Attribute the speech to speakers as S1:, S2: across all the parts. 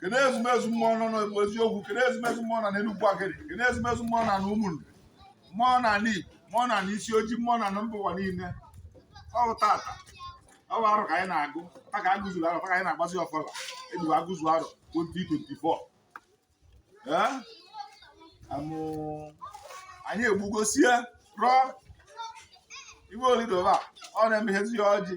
S1: kene ezumezu mmụọ nọ n'Igbo eziokwu kene ezumezu mmụọ nọ n'Enugwu Agidi kene ezumezu mmụọ nọ n'Ụmụnri mmụọ nọ n'Igbo mmụọ nọ n'isi ojii mmụọ na mba ụwa niile ọ bụ tata ọ bụ arọ ka anyị na-agụ ta ka agụzuru arọ ta ka anyị na-agbazi ọfala ejiwe agụzu arọ 2024 ee amụ anyị egbugosie rụọ iwe olidoba ọ na-emehezi ọjị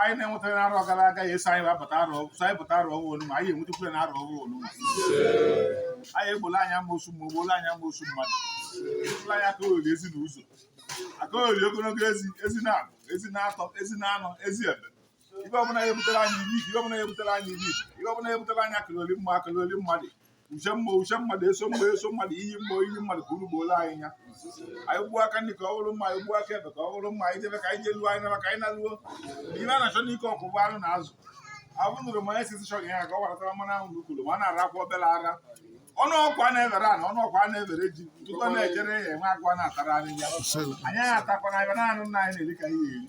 S1: anyị na-enwetara na arọ gara aga ya eso anyị bata arọ so anyị pụta arọ ọhụrụ onuma anyị enwetakwure na arọ ọhụrụ onuma anyị egbola anyị amosu mma egbola anyị amosu mmadụ egbola anyị aka oriri ezi na ụzọ aka oriri ogologo ezi ezi na abọ ezi na atọ ezi na anọ ezi ebe ibe ọbụla ya ebutere anyị ibi ibe ọbụla ya ebutere anyị ibi ibe ọbụla ya ebutere anyị akalogoli mma akalogoli mmadụ uchu mma uchu mmadụ eso mma eso mmadụ iyi mma iyi mmadụ ka unu gbola anyị nya anyị gbuo aka nri ka ọ bụrụ mma anyị gbuo aka ekpe ka ọ bụrụ mma anyị jebe ka anyị jeluo anyị naba ka anyị naluo ibe a na-achọ n'ike ọkụ bụ anụ na azụ abụnụrụ ma esi chọrọ ya ka ọ gbaratara mmanụ ahụ n'ukulu ma a na-ara akwa obere ara ọnụ ọkwa na-ebere ana ọnụ ọkwa na-ebere ji tupu na-ejere ya enwe agwa na-atara anyị ya anyị atakwana ebe na-anụ nna anyị na-eri ka ihe eri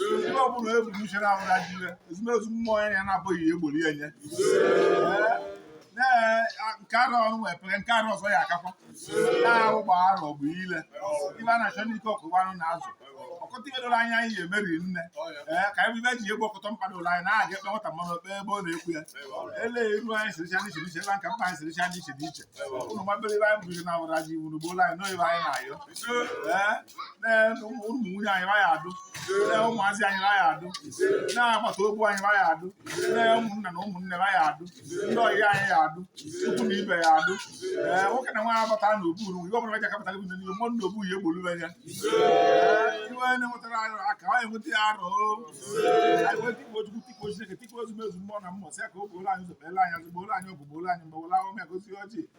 S1: ihe ọbụla ebughị uche na abụla jire ezumezu mmụọ ya ya na-abụghị ya egbori ya nye nke arọ ọrụ wee pere nke arọ ọzọ ya akakwa na-ahụ gba arọ bụ ile ibe a na-achọ n'ike ọkụ bụ anụ na azụ ọkụta ibe doro anya anyị emeri nne ee ka anyị bụ ibe ji egbu ọkụtọ mkpa doro anyị na-aga ekpe nwata mmanụ ekpe ebe ọ na-ekwu ya ele iru anyị siricha n'iche n'iche ebe nka mkpa anyị siricha n'iche n'iche ụmụ mabere ibe anyị bụzi na awụra ji iwu n'ugbo ụlọ anyị n'oyibe anyị na-ayọ ee ụmụ nwunye anyị ya adụ ụmụazị anyị ya adụ na agbata obu anyị ya adụ na ụmụnna na ụmụnne ya adụ ndị ọyị anyị ya adụ ukwu na ibe ya adụ ee nwoke na nwaanyị agbata na oburu ihe ọbụla ji akapụta gị n'ihe mọ na obu ya egbolu ya iwe na-enwetara arụ aka anyị enweta ya arọ anyị wee tikpo chukwu tikpo chineke tikpo ezumezu mmụọ na mmụọ sị ya ka o gbooro anyị ụzọ kpeela anyị azụ gbooro anyị ọgụ gbooro anyị mgba were ahụ ya gosi ọjị